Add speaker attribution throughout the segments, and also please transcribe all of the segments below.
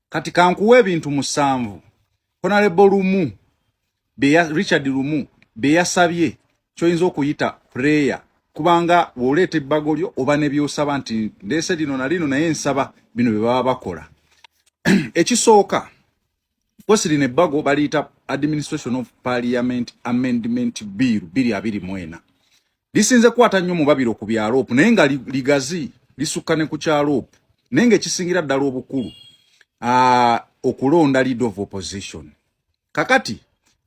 Speaker 1: kati kankuwa ebintu musanvu honalebo lumu beya richard lumu beyasabye kyoyinza okuyita prayer kubanga woleeta ebbago lyo oba nebyosaba nti ndese lino na lino naye nsaba bino bye baba bakola ekisooka kosi lino ebbago baliyita administration of parliament amendment bill biri abiri mwena lisinze kukwata nnyo mu babiro ku bya loopu naye nga ligazi lisukka ne ku kya loopu naye nga ekisingira ddala obukulu uh, okulonda leader of opposition kakati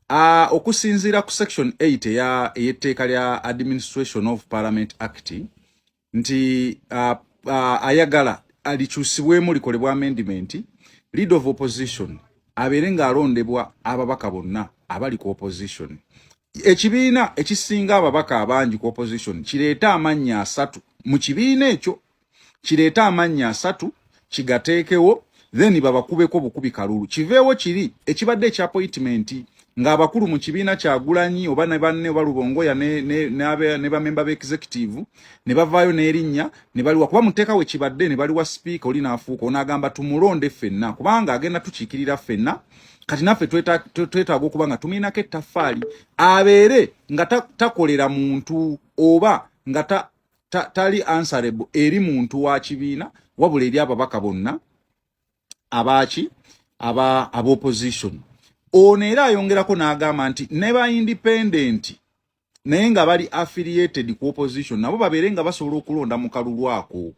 Speaker 1: uh, okusinziira ku section 8 eya eyetteeka lya administration of parliament act nti uh, uh, ayagala alikyusibwemu likolebwa amendment lead of opposition abeere ng'alondebwa ababaka bonna abali ku opposition ekibiina ekisinga ababaka abangi ku opposition kireeta amannya asatu mu kibiina ekyo kireeta amannya asatu kigateekewo then babakubeko bukubi kalulu kiveewo kiri ekibadde ekya appointment ng'abakulu mu kibiina kyagulanyi oba ne banne oba lubongoya ne bamemba ba executive ne bavaayo n'erinnya ne baliwa kuba muteeka we kibadde ne baliwa sipiika oli n'afuuka onaagamba tumulonde ffenna kubanga agenda tukiikirira ffenna kati naffe twetaaga okuba nga tumiinako ettaffaali abeere nga takolera muntu oba nga tali answerable eri muntu wa kibiina wabula eri ababaka bonna abaaki aba abaopposition ono era ayongerako n'agamba nti ne ba independent naye nga bali affiliated ku opposition nabo babeere nga basobola okulonda mu kalulu ako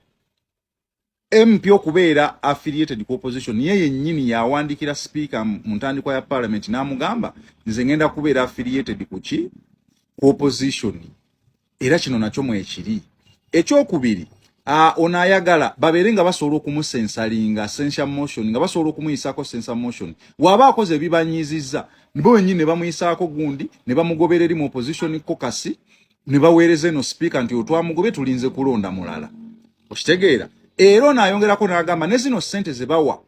Speaker 1: MP okubeera affiliated ku opposition ye yennyini yawandikira sipiika mu ntandikwa ya parliament n'amugamba nze ngenda kubeera affiliated ku ki ku opposition era kino nakyo mwekiri ekyokubiri Uh, ono ayagala babeere nga basobola okumusensalinga sensa motion nga basobola okumuyisaako sensa motion waaba akoze ebibanyiizizza bo wenyini ne bamuyisaako gundi ne bamugobereri mu opposition kokasi ne baweereza eno sipiika nti otwamugobe tulinze kulonda mulala okitegeera era ono ayongerako n'agamba ne zino ssente ze bawa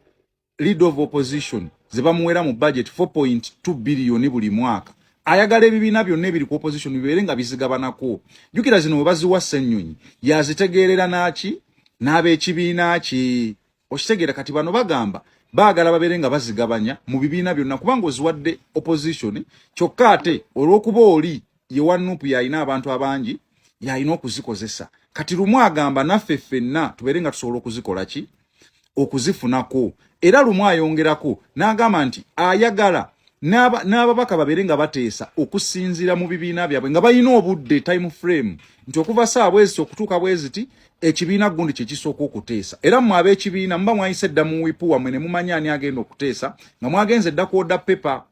Speaker 1: lead of opposition ze bamuweera mu budget 4.2 biliyoni buli mwaka ayagala ebibiina byonna ebiri ku opposition bibeere nga bizigabanako jjukira zino we baziwa ssennyonyi yazitegeerera n'aki n'ab'ekibiina ki okitegera kati bano bagamba baagala babeere nga bazigabanya mu bibiina byonna kubanga oziwadde opposition kyokka ate olw'okuba oli ye wa nupu yalina abantu abangi yalina okuzikozesa kati lumu agamba naffe ffenna tubeere nga tusobola okuzikola ki okuzifunako era lumu ayongerako n'agamba nti ayagala n'ababaka babeere nga bateesa okusinziira mu bibiina byabwe nga balina obudde time frame nti okuva saa bweziti okutuuka bweziti ekibiina gundi kyekisooka okuteesa era mwe ab'ekibiina muba mwayise dda mu wipu wamwe ne mumanya ani agenda okuteesa nga mwagenze dda ku oda pepa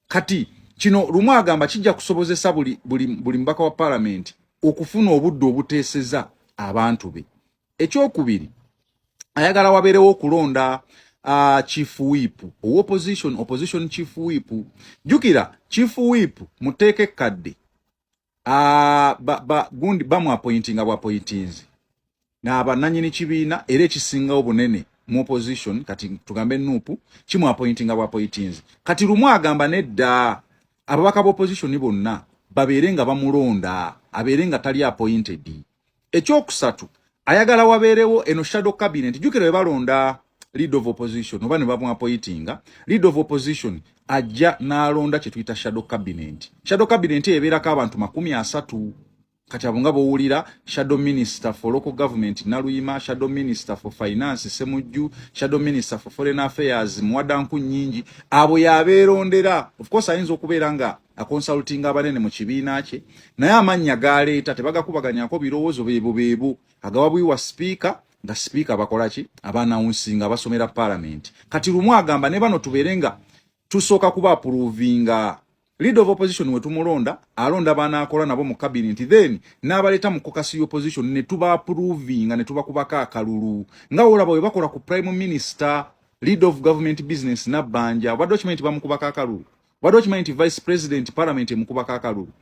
Speaker 1: kati kino lumu agamba kijja kusobozesa buli, buli, buli mubaka wa palamenti okufuna obudde obuteeseza abantu be ekyokubiri ayagala wabeerewo okulonda uh, chief whip owa opposition opposition chief whip jukira chief whip muteeka ekkadde ah, gundi bamwapointinga bwapointinzi nabananyini kibiina era ekisingawo bunene mu opposition kati tugambe nupu kimwapointinga bwapointinzi kati lumu agamba nedda ababaka ba opposition bonna babeere nga bamulonda abeere nga tali appointed ekyokusatu ayagala wabeerewo eno shadow cabinet jukira webalonda lead of opposition oba nebamuapoitinga lead of opposition ajja nalonda kyetuyita shadow cabinet shadow cabinet ebeerako abantu makumi asatu kati abo nga bowulira shadow minister for local government naluyima shadow minister for finance semujju shadow minister for foreign affairs muwadanku nyingi abo yabeerondera of course ayinza okubeera nga akonsultinga abanene mu kibiina kye naye amannya galeeta tebagakubaganyako birowoozo beebo beebo agawa bwiwa sipiika nga sipiika abakola ki abaanawunsinga abasomera palamenti kati lumu agamba ne bano tubeere nga tusooka kuba apuruvinga leader of opposition wetumulonda alonda bana akola nabo mu cabinet then nabaleta mu kokasi opposition ne tuba approving ne tuba kubaka akalulu nga ola bawe bakola ku prime minister leader of government business na banja bado chimenti bamukubaka akalulu wade okimanyi nti vice president parliament emukuba kakalulu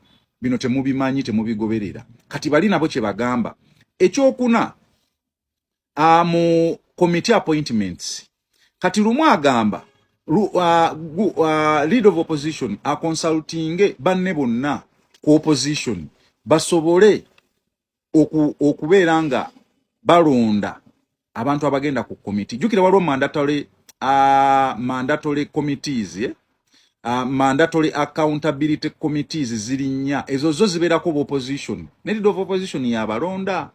Speaker 1: bino temubimanyi temubigoberera kati bali nabo kyebagamba ekyokuna ah, mu committee appointments kati lumu agamba lu, uh, gu, uh, lead of opposition aconsultinge banne bonna ku opposition basobole okubeera nga balonda abantu abagenda ku komiti jukira waliwo mandatory uh, mandatory committees eh? uh, mandatory accountability committees ziri nnya ezo zo zibeerako ba opposition nedid of opposition yabalonda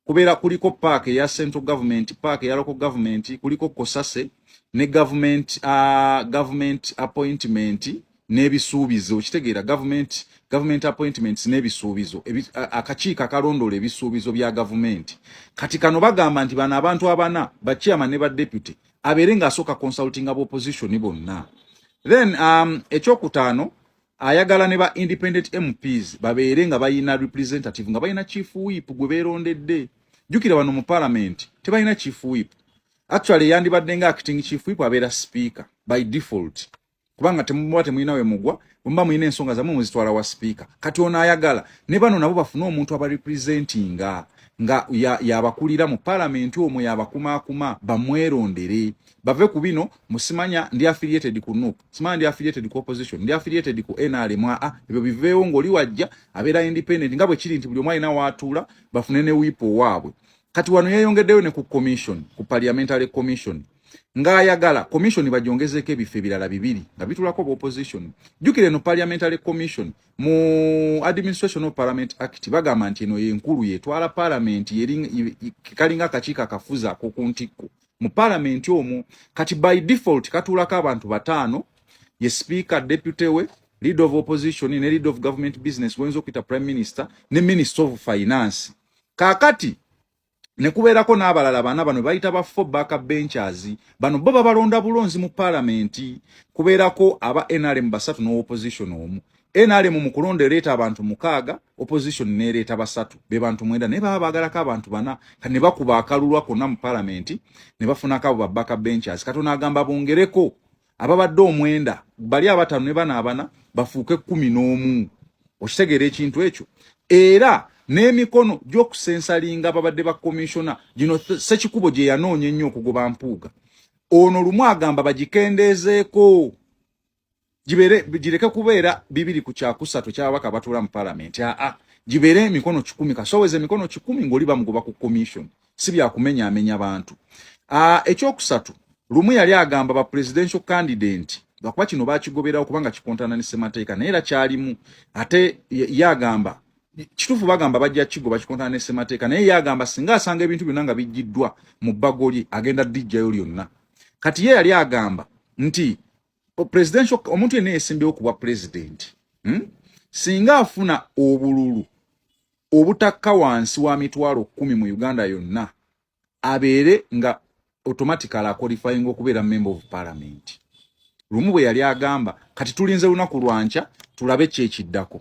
Speaker 1: kubeera kuliko park eya central government park eya local government kuliko kosase ne government uh, government appointment n'ebisuubizo okitegeera gavumenti government appointments n'ebisuubizo akakiiko akalondoola ebisuubizo bya gavumenti kati kano bagamba nti bano abantu abana ba chairman ne ba deputy abeere ng'asooka consulting aba opposition bonna then um, ekyokutaano ayagala ne ba independent mps babeere nga balina representative nga balina chief whip gwe beerondedde jjukira bano mu palamenti tebalina chief whip actually yandibadde nga acting chief whip abeera speaker by default kubanga temuba temulina we mugwa bwemuba mulina ensonga zamwe muzitwala wa sipiika kati ono ayagala ne bano nabo bafune omuntu abarepresentinga nga yabakulira ya mu palamenti omwe yabakumakuma bamwerondere bave ku bino musimanya ndi affiliated ku nup simanya ndi affiliated ku opposition ndi affiliated ku nrm aa ebyo biveewo ng'oli wajja abeera independent nga bwe kiri nti buli omu alina waatuula bafune ne wiipo waabwe kati wano yeyongeddeyo ne ku commission ku parliamentary commission ng'ayagala commission bagyongezeeko ebifo ebirala bibiri nga bitulako oba opposition jjukira eno parliamentary commission mu administration of parliament act bagamba nti eno yenkulu yetwala parliament kalinga akakiiko akafuzi akoku ntikko mu parliament omwo kati by default katuulako abantu bataano ye speaker deputy we lead of opposition ne lead of government business wenza okuyita prime minister ne minister of finance kakati ne kubeerako n'abalala bana bano bayita ba four back benchers bano bo babalonda bulonzi mu palamenti kubeerako aba nrm basatu ne opposition omu nrm mu kulonda ereeta abantu mukaaga opposition neereeta basatu be bantu mwenda naye baba baagalako abantu bana ne bakuba akalulwa konna mu palamenti ne bafunako abo ba back benchers kati onaagamba bongereko ababadde omwenda bali abatano ne bana abana bafuuke kumi n'omu okitegeera ekintu ekyo era n'emikono gy'okusensalinga ababadde ba komishona gino sekikubo gye yanoonya ennyo okugoba mpuuga ono lumu agamba bagikendeezeeko gireke kubeera bibiri ku kyakusatu ekyababaka abatuula mu palamenti aa gibeere emikono kikumi kasoweza emikono kikumi ng'oli bamugoba ku komishoni si bya kumenya amenya bantu ah, ekyokusatu lumu yali agamba ba presidential candidate lwakuba kino bakigoberawo kubanga kikontana ne semateeka naye era kyalimu ate ye agamba kituufu bagamba bajja kigo bakikontana ne semateeka naye ye agamba singa asanga ebintu byonna nga bijjiddwa mu bbago lye agenda dijjayo lyonna kati ye yali agamba nti presidential omuntu yenna yesimbewo ku bwa pulezidenti hmm? singa afuna obululu obutakka wansi wa mitwalo kumi mu Uganda yonna abeere nga automatically aqualifying okubeera member of parliament lumu bwe yali agamba kati tulinze lunaku lwankya tulabe kyekiddako